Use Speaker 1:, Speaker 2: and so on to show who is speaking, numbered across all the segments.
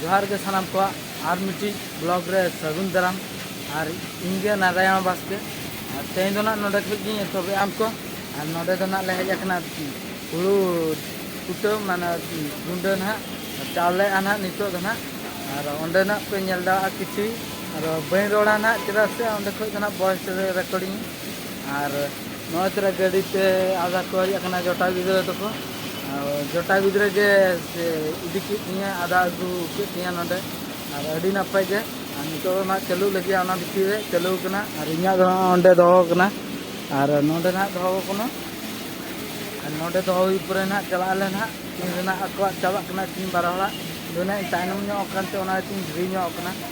Speaker 1: ᱡᱚᱦᱟᱨ ᱜᱮ ᱥᱟᱱᱟᱢ ᱠᱚᱣᱟᱜ ᱟᱨ ᱢᱤᱫᱴᱤᱡ ᱵᱞᱚᱜ ᱨᱮ ᱥᱟᱹᱜᱩᱱ ᱫᱟᱨᱟᱢ ᱟᱨ ᱤᱧ ᱜᱮ ᱱᱟᱨᱟᱭᱚᱱ ᱵᱟᱥᱠᱮ ᱟᱨ ᱛᱮᱦᱮᱧ ᱫᱚ ᱱᱟᱜ ᱱᱚᱰᱮ ᱠᱷᱚᱡ ᱜᱤᱧ ᱮᱛᱚᱦᱚᱵᱮᱜᱼᱟ ᱟᱢ ᱠᱚ ᱟᱨ ᱱᱚᱰᱮ ᱫᱚ ᱱᱟᱜ ᱞᱮ ᱦᱮᱡ ᱟᱠᱟᱱᱟ ᱦᱩᱲᱩ ᱠᱩᱴᱟᱹᱢ ᱢᱟᱱᱮ ᱜᱩᱸᱰᱟᱹ ᱱᱟᱜ ᱪᱟᱣᱞᱮᱜᱼᱟ ᱱᱟᱜ ᱱᱤᱛᱚᱜ ᱫᱚ ᱱᱟᱜ ᱟᱨ ᱚᱸᱰᱮ ᱱᱟᱜ ᱯᱮ ᱧᱮᱞ ᱫᱟᱲᱮᱭᱟᱜᱼᱟ ᱠᱤᱪᱷᱩ ᱟᱨ ᱵᱟᱹᱧ ᱨᱚᱲᱟ ᱱᱟᱜ ᱪᱮᱫᱟᱜ ᱥᱮ ᱚᱸᱰᱮ ᱠᱷᱚᱡ ᱫᱚ ᱱᱟᱜ ᱵᱚᱭᱮᱥ ᱨᱮ ᱨᱮᱠᱚᱨᱰᱤᱝ ᱟᱨ ᱱᱚᱜᱼᱚᱭ ᱛᱚᱨᱟ ᱜᱟᱹᱰᱤ ᱛᱮ ᱟᱫᱷᱟ ᱠᱚ ᱦᱮᱡ ᱟᱠᱟᱱᱟ ᱡᱚᱴᱟᱣ ᱜᱤᱫᱽᱨᱟᱹ ᱛᱟᱠᱚ ᱡᱚᱴᱟᱣ ᱜᱤᱫᱽᱨᱟᱹ ᱜᱮ ᱤᱫᱤ ᱠᱮᱫ ᱛᱤᱧᱟᱹ ᱟᱫᱟ ᱟᱹᱜᱩ ᱠᱮᱫ ᱛᱤᱧᱟᱹ ᱱᱚᱰᱮ ᱟᱨ ᱟᱹᱰᱤ ᱱᱟᱯᱟᱭ ᱜᱮ ᱟᱨ ᱱᱤᱛᱚᱜ ᱫᱚ ᱱᱟᱜ ᱪᱟᱹᱞᱩ ᱞᱟᱹᱜᱤᱫ ᱚᱱᱟ ᱵᱷᱤᱛᱤᱨ ᱨᱮ ᱪᱟᱹᱞᱩ ᱠᱟᱱᱟ ᱟᱨ ᱤᱧᱟᱹᱜ ᱫᱚ ᱦᱟᱸᱜ ᱚᱸᱰᱮ ᱫᱚᱦᱚ ᱠᱟᱱᱟ ᱟᱨ ᱱᱚᱰᱮ ᱱᱟᱜ ᱫᱚᱦᱚ ᱠᱟᱱᱟ ᱟᱨ ᱱᱚᱰᱮ ᱫᱚᱦᱚ ᱦᱩᱭ ᱯᱚᱨᱮ ᱱᱟᱜ ᱪᱟᱞᱟᱜ ᱟᱞᱮ ᱱᱟᱜ ᱛᱤᱱ ᱨᱮᱱᱟᱜ ᱟᱠᱚᱣᱟᱜ ᱪᱟᱵᱟᱜ ᱠᱟᱱᱟ ᱛᱤᱱ ᱵᱟᱨ ᱦᱚᱲᱟᱜ ᱫᱚ ᱱᱟᱜ ᱤᱧ ᱛᱟᱭᱱᱚᱢ ᱧᱚᱜ ᱟᱠᱟᱱᱛᱮ ᱚᱱᱟ ᱛᱤᱧ ᱫᱮᱨᱤ ᱧᱚᱜ ᱠᱟᱱᱟ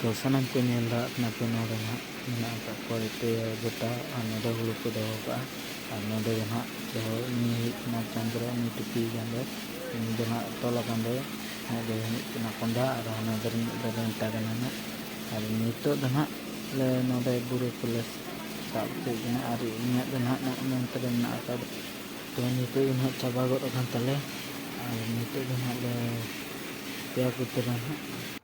Speaker 1: ᱛᱚ ᱥᱟᱱᱟᱢ ᱠᱚ ᱧᱮᱞ ᱫᱟᱲᱮᱭᱟᱜ ᱠᱟᱱᱟ ᱛᱚ ᱱᱚᱰᱮ ᱱᱟᱦᱟᱜ ᱢᱮᱱᱟᱜ ᱟᱠᱟᱫ ᱠᱚᱣᱟ ᱮᱛᱮ ᱜᱚᱴᱟ ᱟᱨ ᱱᱚᱰᱮ ᱦᱩᱲᱩ ᱠᱚ ᱫᱚᱦᱚ ᱠᱟᱜᱼᱟ ᱟᱨ ᱱᱚᱰᱮ ᱫᱚ ᱱᱟᱦᱟᱜ ᱫᱚᱦᱚ ᱩᱱᱤ ᱦᱩᱭᱩᱜ ᱠᱟᱱᱟ ᱪᱚᱱᱫᱨᱚ ᱩᱱᱤ ᱴᱩᱯᱤ ᱟᱠᱟᱱ ᱫᱚᱭ ᱩᱱᱤ ᱫᱚ ᱱᱟᱦᱟᱜ ᱛᱚᱞ ᱟᱠᱟᱱ ᱫᱚᱭ ᱩᱱᱤ ᱫᱚᱭ ᱦᱩᱭᱩᱜ ᱠᱟᱱᱟ ᱠᱚᱸᱰᱷᱟ ᱟᱨ ᱦᱟᱱᱟ ᱫᱚ ᱨᱤᱱᱤᱡ ᱫᱚ ᱨᱮᱱᱴᱟ ᱠᱟᱱᱟᱭ ᱱᱟᱦᱟᱜ ᱟᱨ ᱱᱤᱛᱚᱜ ᱫᱚ ᱱᱟᱦᱟᱜ ᱞᱮ ᱱᱚᱰᱮ ᱵᱩᱨᱩ ᱠᱚᱞᱮ ᱥᱟᱵ ᱦᱚᱪᱚᱭᱮᱫ ᱠᱟᱱᱟ ᱟᱨ ᱤᱧᱟᱹᱜ ᱫᱚ ᱱᱟᱦᱟᱜ ᱱᱚᱜᱼᱚ ᱱᱚᱱᱛᱮ ᱨᱮ ᱢᱮᱱᱟᱜ ᱟᱠᱟᱫ ᱛᱚ ᱱᱤᱛᱚᱜ ᱫᱚ ᱱᱟᱦᱟᱜ ᱪᱟᱵᱟ ᱜᱚᱫ ᱟᱠᱟᱱ ᱛᱟᱞᱮᱭᱟ ᱟᱨ ᱱᱤᱛᱚᱜ ᱫᱚ ᱱᱟᱦᱟᱜ ᱞᱮ ᱯᱮᱭᱟ ᱠᱚᱛᱮ ᱱᱟᱦᱟᱜ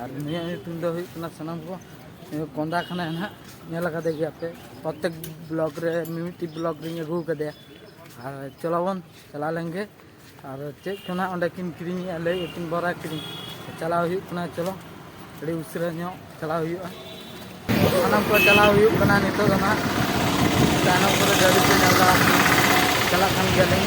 Speaker 1: ᱟᱨ ᱱᱩᱭᱟᱜ ᱧᱩᱛᱩᱢ ᱫᱚ ᱦᱩᱭᱩᱜ ᱠᱟᱱᱟ ᱥᱟᱱᱟᱢ ᱠᱚ ᱠᱚᱸᱫᱟ ᱠᱷᱟᱱᱟᱭ ᱱᱟᱦᱟᱜ ᱧᱮᱞ ᱟᱠᱟᱫᱮ ᱜᱮᱭᱟᱯᱮ ᱯᱨᱚᱛᱮᱠ ᱵᱞᱚᱜᱽ ᱨᱮ ᱢᱤᱢᱤᱫᱴᱤᱡ ᱵᱞᱚᱜᱽ ᱨᱤᱧ ᱟᱹᱜᱩ ᱟᱠᱟᱫᱮᱭᱟ ᱟᱨ ᱪᱚᱞᱚᱵᱚᱱ ᱪᱟᱞᱟᱣ ᱞᱮᱱᱜᱮ ᱟᱨ ᱪᱮᱫ ᱠᱚ ᱱᱟᱦᱟᱜ ᱚᱸᱰᱮ ᱠᱤᱱ ᱠᱤᱨᱤᱧᱮᱜᱼᱟ ᱞᱟᱹᱭ ᱟᱹᱠᱤᱱ ᱵᱚᱨᱟ ᱠᱤᱨᱤᱧ ᱪᱟᱞᱟᱣ ᱦᱩᱭᱩᱜ ᱠᱟᱱᱟ ᱪᱚᱞᱚ ᱟᱹᱰᱤ ᱩᱥᱟᱹᱨᱟ ᱧᱚᱜ ᱪᱟᱞᱟᱣ ᱦᱩᱭᱩᱜᱼᱟ ᱥᱟᱱᱟᱢ ᱠᱚ ᱪᱟᱞᱟᱣ ᱦᱩᱭᱩᱜ ᱠᱟᱱᱟ ᱱᱤᱛᱚᱜ ᱫᱚ ᱱᱟᱦᱟᱜ ᱛᱟᱭᱱᱚᱢ ᱠᱚᱨᱮ ᱜᱟᱹᱰᱤ ᱠᱚ ᱧᱮᱞᱫᱟ ᱪᱟᱞᱟᱜ ᱠᱟᱱ ᱜᱮᱭᱟᱞᱤᱧ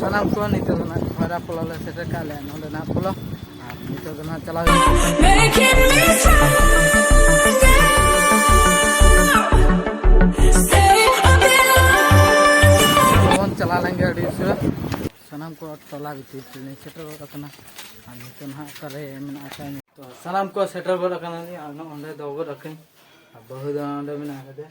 Speaker 2: ᱥᱟᱱᱟᱢ ᱠᱚ
Speaker 1: ᱱᱤᱛᱚᱜ ᱫᱚ ᱱᱟᱜ ᱵᱷᱟᱭᱨᱟ ᱯᱚᱞᱚ ᱞᱮ ᱥᱮᱴᱮᱨ ᱠᱟᱜ ᱞᱮᱭᱟ ᱱᱚᱰᱮ ᱱᱟᱜ ᱯᱚᱞᱚ ᱟᱨ ᱱᱤᱛᱚᱜ ᱫᱚ ᱱᱟᱜ ᱪᱟᱞᱟᱣ
Speaker 2: ᱵᱚᱱ
Speaker 1: ᱪᱟᱞᱟᱣ ᱞᱮᱱ ᱜᱮ ᱟᱹᱰᱤ ᱩᱥᱟᱹᱨᱟ ᱥᱟᱱᱟᱢ ᱠᱚ ᱴᱚᱞᱟ ᱵᱷᱤᱛᱤᱨ ᱛᱮᱞᱮ ᱥᱮᱴᱮᱨ ᱜᱚᱫ ᱟᱠᱟᱱᱟ ᱟᱨ ᱱᱤᱛᱚᱜ ᱱᱟᱜ ᱚᱠᱟᱨᱮ ᱢᱮᱱᱟᱜ ᱟᱠᱟᱫ ᱛᱚ ᱥᱟᱱᱟᱢ ᱠᱚ ᱥᱮᱴᱮᱨ ᱜᱚᱫ ᱟᱠᱟᱱᱟ ᱟᱨ ᱱᱚᱜᱼᱚᱸᱰᱮ ᱫᱚᱦᱚ ᱜᱚᱫ ᱟᱹᱠᱤᱱ ᱟᱨ ᱵᱟᱹᱦᱩ ᱫᱚ ᱚᱸᱰᱮ ᱢᱮᱱᱟᱜ ᱟᱠᱟᱫᱮᱭᱟ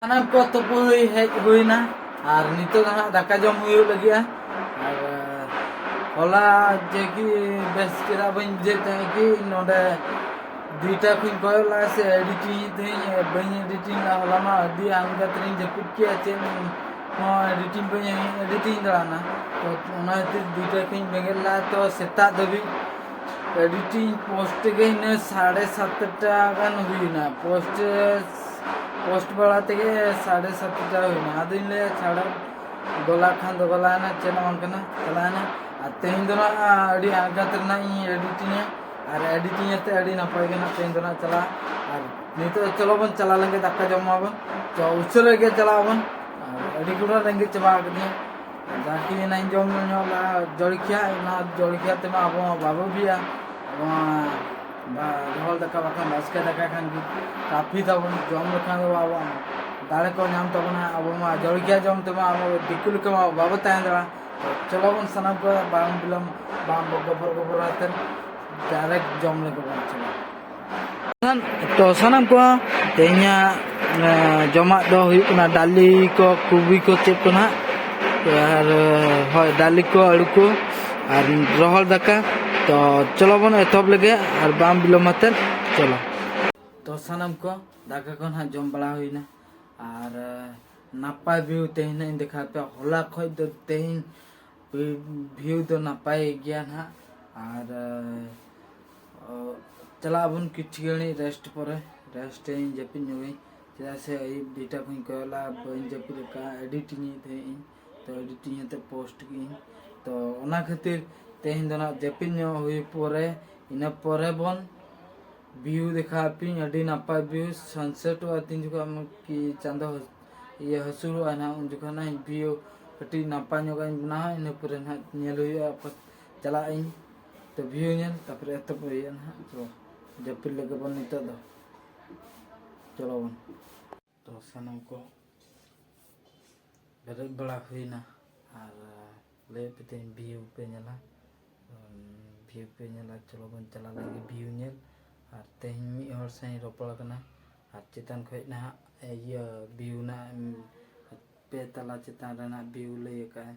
Speaker 1: ᱥᱟᱱᱟᱢ ᱠᱚ ᱛᱩᱯᱩ ᱦᱩᱭ ᱦᱮᱡ ᱦᱩᱭᱱᱟ ᱟᱨ ᱱᱤᱛᱚᱜ ᱦᱟᱸᱜ ᱫᱟᱠᱟ ᱡᱚᱢ ᱦᱩᱭᱩᱜ ᱞᱟᱹᱜᱤᱫᱼᱟ ᱟᱨ ᱦᱚᱞᱟ ᱡᱮ ᱠᱤ ᱵᱮᱥ ᱪᱮᱦᱨᱟ ᱵᱟᱹᱧ ᱵᱩᱡᱷᱟᱹᱣ ᱛᱟᱦᱮᱸᱫ ᱠᱤ ᱱᱚᱰᱮ ᱫᱩᱭᱴᱟ ᱠᱷᱚᱱ ᱠᱚᱭᱚᱜ ᱞᱟᱜᱼᱟ ᱥᱮ ᱮᱰᱤᱴᱤᱝ ᱛᱟᱦᱮᱸᱧ ᱵᱟᱹᱧ ᱮᱰᱤᱴᱤᱝ ᱞᱟᱜᱼᱟ ᱦᱚᱞᱟ ᱢᱟ ᱟᱹᱰᱤ ᱟᱞᱜᱟ ᱛᱮᱞᱤᱧ ᱡᱟᱹᱯᱤᱫ ᱠᱮᱜᱼᱟ ᱪᱮᱫ ᱦᱚᱸ ᱮᱰᱤᱴᱤᱝ ᱵᱟᱹᱧ ᱮᱰᱤᱴᱤᱝ ᱫᱟᱲᱮᱭᱟᱜᱼᱟ ᱛᱚ ᱚᱱᱟ ᱠᱷᱟᱹᱛᱤᱨ ᱫᱩᱭᱴᱟ ᱠᱷᱚᱱ ᱵᱮᱸᱜᱮᱫ ᱞᱟᱜᱼᱟ ᱛᱚ ᱥᱮᱛᱟᱜ ᱫᱷᱟᱹᱵᱤᱡ ᱮᱰᱤᱴᱤᱝ ᱯᱳᱥᱴ ᱛᱮᱜᱮ ᱤᱱᱟᱹ ᱥᱟᱲᱮ ᱥᱟᱛᱴᱟ ᱜᱟᱱ ᱦᱩᱭᱱᱟ ᱯᱳᱥᱴ ᱯᱳᱥᱴ ᱵᱟᱲᱟ ᱛᱮᱜᱮ ᱥᱟᱲᱮ ᱥᱟᱛ ᱵᱟᱡᱟ ᱦᱩᱭᱱᱟ ᱟᱫᱚᱧ ᱞᱟᱹᱭᱟ ᱪᱷᱟᱲᱟ ᱜᱚᱞᱟ ᱠᱷᱟᱱ ᱫᱚ ᱜᱚᱞᱟᱭᱮᱱᱟ ᱪᱮᱫ ᱦᱚᱸ ᱵᱟᱝ ᱠᱟᱱᱟ ᱪᱟᱞᱟᱣᱮᱱᱟ ᱟᱨ ᱛᱮᱦᱮᱧ ᱫᱚ ᱱᱟᱜ ᱟᱹᱰᱤ ᱟᱬᱜᱟᱛ ᱨᱮᱱᱟᱜ ᱤᱧ ᱮᱰᱤᱴᱤᱝᱟ ᱟᱨ ᱮᱰᱤᱴᱤᱝ ᱟᱛᱮ ᱟᱹᱰᱤ ᱱᱟᱯᱟᱭ ᱜᱮ ᱱᱟᱜ ᱛᱮᱦᱮᱧ ᱫᱚ ᱱᱟᱜ ᱪᱟᱞᱟᱜᱼᱟ ᱟᱨ ᱱᱤᱛᱚᱜ ᱪᱚᱞᱚ ᱵᱚᱱ ᱪᱟᱞᱟᱣ ᱞᱮᱱᱜᱮ ᱫᱟᱠᱟ ᱡᱚᱢᱟᱵᱚᱱ ᱛᱚ ᱩᱥᱟᱹᱨᱟ ᱜᱮ ᱪᱟᱞᱟᱜ ᱟᱵᱚᱱ ᱟᱨ ᱟᱹᱰᱤ ᱜᱩᱞᱟ ᱨᱮᱸᱜᱮᱡ ᱪᱟᱵᱟ ᱟᱠᱟᱫᱤᱧᱟ ᱡᱟᱦᱟᱸ ᱠᱤ ᱚᱱᱟ ᱡᱚᱢ ᱧᱩ ᱧᱚᱜ ᱞᱮ ᱡᱚᱞᱠᱮᱭᱟ ᱚᱱᱟ ᱡᱚᱞᱠᱮᱭᱟ ᱛᱮᱢᱟ ᱟᱵᱚ ᱢᱟ ᱵᱟᱵᱚ ᱵᱤᱜᱼᱟ ᱨᱚᱦᱚᱲ ᱫᱟᱠᱟ ᱵᱟᱠᱷᱟᱱ ᱵᱟᱥᱠᱮ ᱫᱟᱠᱟ ᱠᱷᱟᱱ ᱜᱮ ᱠᱟᱹᱯᱷᱤ ᱛᱟᱵᱚᱱ ᱡᱚᱢ ᱞᱮᱠᱷᱟᱱ ᱫᱚ ᱟᱵᱚ ᱫᱟᱲᱮ ᱠᱚ ᱧᱟᱢ ᱛᱟᱵᱚᱱᱟ ᱟᱵᱚ ᱢᱟ ᱡᱚᱞᱠᱮᱭᱟ ᱡᱚᱢ ᱛᱮᱢᱟ ᱟᱵᱚ ᱫᱤᱠᱩ ᱞᱮᱠᱟ ᱢᱟ ᱵᱟᱵᱚ ᱛᱟᱦᱮᱸ ᱫᱟᱲᱮᱭᱟᱜᱼᱟ ᱪᱚᱞᱚ ᱵᱚᱱ ᱥᱟᱱᱟᱢ ᱠᱚ ᱵᱟᱝ ᱵᱤᱞᱚᱢ ᱵᱟᱝ ᱜᱚᱵᱚᱨ ᱜᱚᱵᱚᱨ ᱟᱛᱮᱫ ᱰᱟᱭᱨᱮᱠᱴ ᱡᱚᱢ ᱞᱟᱹᱜᱤᱫ ᱵᱚᱱ ᱪᱟᱞᱟᱜᱼᱟ ᱛᱚ ᱥᱟᱱᱟᱢ ᱠᱚ ᱛᱮᱦᱮᱧᱟᱜ ᱡᱚᱢᱟᱜ ᱫᱚ ᱦᱩᱭᱩᱜ ᱠᱟᱱᱟ ᱰᱟᱞᱤ ᱠᱚ ᱠᱚᱵᱤ ᱠᱚ ᱪᱮᱫ ᱠᱚ ᱱᱟᱦᱟᱜ ᱟᱨ ᱦᱳᱭ ᱰᱟᱞᱤ ᱠᱚ ᱟᱹᱞᱩ ᱠᱚ ᱟᱨ ᱨᱚᱦᱚᱲ ᱫᱟᱠᱟ ᱛᱚ ᱪᱚᱞᱚ ᱵᱚᱱ ᱮᱛᱚᱦᱚᱵ ᱞᱮᱜᱮ ᱟᱨ ᱵᱟᱝ ᱵᱤᱞᱚᱢ ᱟᱛᱮᱫ ᱪᱚᱞᱚ ᱛᱚ ᱥᱟᱱᱟᱢ ᱠᱚ ᱫᱟᱠᱟ ᱠᱚ ᱱᱟᱦᱟᱜ ᱡᱚᱢ ᱵᱟᱲᱟ ᱦᱩᱭᱱᱟ ᱟᱨ ᱱᱟᱯᱟᱭ ᱵᱷᱤᱭᱩ ᱛᱮᱦᱮᱧ ᱱᱟᱜ ᱤᱧ ᱫᱮᱠᱷᱟᱣ ᱯᱮᱭᱟ ᱦᱚᱞᱟ ᱠᱷᱚᱡ ᱫᱚ ᱛᱮᱦᱮᱧ ᱵᱷᱤᱭᱩ ᱫᱚ ᱱᱟᱯᱟᱭ ᱜᱮᱭᱟ ᱱᱟᱦᱟᱜ ᱟᱨ ᱪᱟᱞᱟᱜ ᱟᱵᱚᱱ ᱠᱤᱪᱷᱩ ᱜᱷᱟᱹᱲᱤᱡ ᱨᱮᱥᱴ ᱯᱚᱨᱮ ᱨᱮᱥᱴ ᱤᱧ ᱡᱟᱹᱯᱤᱫ ᱧᱚᱜᱟᱹᱧ ᱪᱮᱫᱟᱜ ᱥᱮ ᱟᱹᱭᱩᱵ ᱫᱩᱴᱟ ᱠᱷᱚᱱ ᱠᱚᱭᱚᱜ ᱞᱟᱜᱼᱟ ᱵᱟᱹᱧ ᱡᱟᱹᱯᱤᱫ ᱟᱠᱟᱫᱼᱟ ᱮᱰᱤᱴᱤᱝ ᱮᱫ ᱛᱟᱦᱮᱸᱫ ᱤᱧ ᱛᱚ ᱮᱰᱤᱴᱤᱝ ᱠᱟᱛᱮ ᱯᱳᱥᱴ ᱠᱤᱫᱟᱹᱧ ᱛᱚ ᱚᱱᱟ ᱠᱷᱟᱹᱛᱤᱨ ᱛᱮᱦᱮᱧ ᱫᱚ ᱱᱟᱜ ᱡᱟᱹᱯᱤᱫ ᱧᱚᱜ ᱦᱩᱭ ᱯᱚᱨᱮ ᱤᱱᱟᱹ ᱯᱚᱨᱮ ᱵᱚᱱ ᱵᱷᱤᱭᱩ ᱫᱮᱠᱷᱟᱣ ᱟᱯᱮᱭᱟᱹᱧ ᱟᱹᱰᱤ ᱱᱟᱯᱟᱭ ᱵᱷᱤᱭᱩ ᱥᱟᱱᱥᱮᱴᱚᱜᱼᱟ ᱛᱤᱱ ᱡᱚᱠᱷᱚᱱ ᱠᱤ ᱪᱟᱸᱫᱚ ᱤᱭᱟᱹ ᱦᱟᱹᱥᱩᱨᱚᱜᱼᱟ ᱱᱟᱜ ᱩᱱ ᱡᱚᱠᱷᱚᱱ ᱱᱟᱜ ᱵᱷᱤᱭᱩ ᱠᱟᱹᱴᱤᱡ ᱱᱟᱯᱟᱭ ᱧᱚᱜᱟᱜ ᱤᱧ ᱵᱮᱱᱟᱣᱟ ᱤᱱᱟᱹ ᱯᱚᱨᱮ ᱱᱟᱜ ᱧᱮᱞ ᱦᱩᱭᱩᱜᱼᱟ ᱪᱟᱞᱟᱜ ᱟᱹᱧ ᱛᱚ ᱵᱷᱤᱭᱩ ᱧᱮᱞ ᱛᱟᱯᱚᱨᱮ ᱮᱛᱚᱦᱚᱵ ᱦᱩᱭᱩᱜᱼᱟ ᱱᱟᱦᱟᱜ ᱛᱚ ᱡᱟᱹᱯᱤᱫ ᱞᱮᱜᱮ ᱵᱚᱱ ᱱᱤᱛᱚᱜ ᱫᱚ ᱪᱚᱞᱚ ᱵᱚᱱ ᱛᱚ ᱥᱟᱱᱟᱢ ᱠᱚ ᱵᱮᱨᱮᱫ ᱵᱟᱲᱟ ᱦᱩᱭᱱᱟ ᱟᱨ ᱞᱟᱹᱭ ᱯᱮ ᱛᱮᱦᱮᱧ ᱵᱷᱤᱭᱩ ᱯᱮ ᱧᱮᱞᱟ ᱵᱷᱤᱭᱩ ᱯᱮ ᱧᱮᱞᱟ ᱪᱚᱞᱚ ᱵᱚᱱ ᱪᱟᱞᱟᱣ ᱞᱮᱱᱜᱮ ᱵᱷᱤᱭᱩ ᱧᱮᱞ ᱟᱨ ᱛᱮᱦᱮᱧ ᱢᱤᱫ ᱦᱚᱲ ᱥᱟᱶ ᱤᱧ ᱨᱚᱯᱚᱲ ᱠᱟᱱᱟ ᱟᱨ ᱪᱮᱛᱟᱱ ᱠᱷᱚᱡ ᱱᱟᱦᱟᱜ ᱤᱭᱟᱹ ᱵᱷᱤᱭᱩ ᱨᱮᱱᱟᱜ ᱯᱮ ᱛᱟᱞᱟ ᱪᱮᱛᱟᱱ ᱨᱮᱱᱟᱜ ᱵᱷᱤᱭᱩ ᱞᱟᱹᱭ ᱟᱠᱟᱫᱼᱟᱭ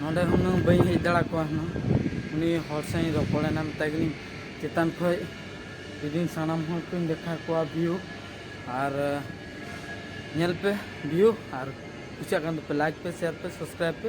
Speaker 1: ᱱᱚᱸᱰᱮ ᱦᱩᱱᱟᱹᱝ ᱵᱟᱹᱧ ᱦᱮᱡ ᱫᱟᱲᱮ ᱠᱚᱣᱟ ᱦᱩᱱᱟᱹᱝ ᱩᱱᱤ ᱦᱚᱲ ᱥᱟᱶ ᱤᱧ ᱨᱚᱯᱚᱲᱮᱱᱟ ᱢᱮᱛᱟᱭ ᱠᱟᱹᱱᱟᱹᱧ ᱪᱮᱛᱟᱱ ᱠᱷᱚᱱ ᱡᱩᱫᱤᱧ ᱥᱟᱱᱟᱢ ᱦᱚᱲ ᱠᱚᱧ ᱫᱮᱠᱷᱟ ᱠᱚᱣᱟ ᱵᱷᱤᱭᱩ ᱟᱨ ᱧᱮᱞ ᱯᱮ ᱵᱷᱤᱭᱩ ᱟᱨ ᱠᱩᱥᱤᱭᱟᱜ ᱠᱟᱱ ᱫᱚᱯᱮ ᱞᱟᱭᱤᱠ ᱯᱮ ᱥᱮᱭᱟᱨ ᱯᱮ ᱥᱟᱵᱥᱠᱨᱟᱭᱤᱵᱽ ᱯᱮ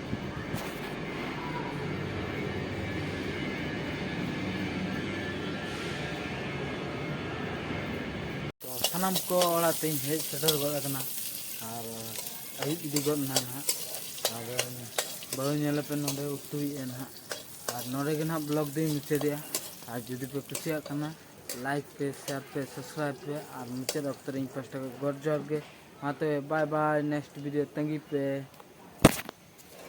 Speaker 1: ᱥᱟᱱᱟᱢ ᱠᱚ ᱚᱲᱟᱜ ᱛᱮᱧ ᱦᱮᱡ ᱥᱮᱴᱮᱨ ᱜᱚᱫ ᱟᱠᱟᱱᱟ ᱟᱨ ᱟᱹᱭᱩᱵ ᱤᱫᱤ ᱜᱚᱫ ᱮᱱᱟ ᱱᱟᱦᱟᱜ ᱟᱨ ᱵᱟᱹᱦᱩ ᱧᱮᱞᱮᱯᱮ ᱱᱚᱰᱮ ᱩᱛᱩᱭᱮᱫᱼᱟ ᱱᱟᱦᱟᱜ ᱟᱨ ᱱᱚᱰᱮ ᱜᱮ ᱱᱟᱦᱟᱜ ᱵᱞᱚᱜ ᱫᱚᱧ ᱢᱩᱪᱟᱹᱫᱮᱜᱼᱟ ᱟᱨ ᱡᱩᱫᱤ ᱯᱮ ᱠᱩᱥᱤᱭᱟᱜ ᱠᱟᱱᱟ ᱞᱟᱭᱤᱠ ᱯᱮ ᱥᱮᱭᱟᱨ ᱯᱮ ᱥᱟᱵᱥᱠᱨᱟᱭᱤᱵ ᱯᱮ ᱟᱨ ᱢᱩᱪᱟᱹᱫ ᱚᱠᱛᱚ ᱨᱮ ᱤᱧ ᱯᱟᱥᱴᱟ ᱠᱷᱚᱱ ᱜᱚᱰ ᱡᱚᱦᱟᱨ ᱜᱮ ᱢᱟ ᱛᱚᱵᱮ ᱵᱟᱭ ᱵᱟᱭ ᱱᱮᱠᱥᱴ ᱵᱷᱤᱰᱤᱭᱳ ᱛᱟᱺᱜᱤ ᱯᱮ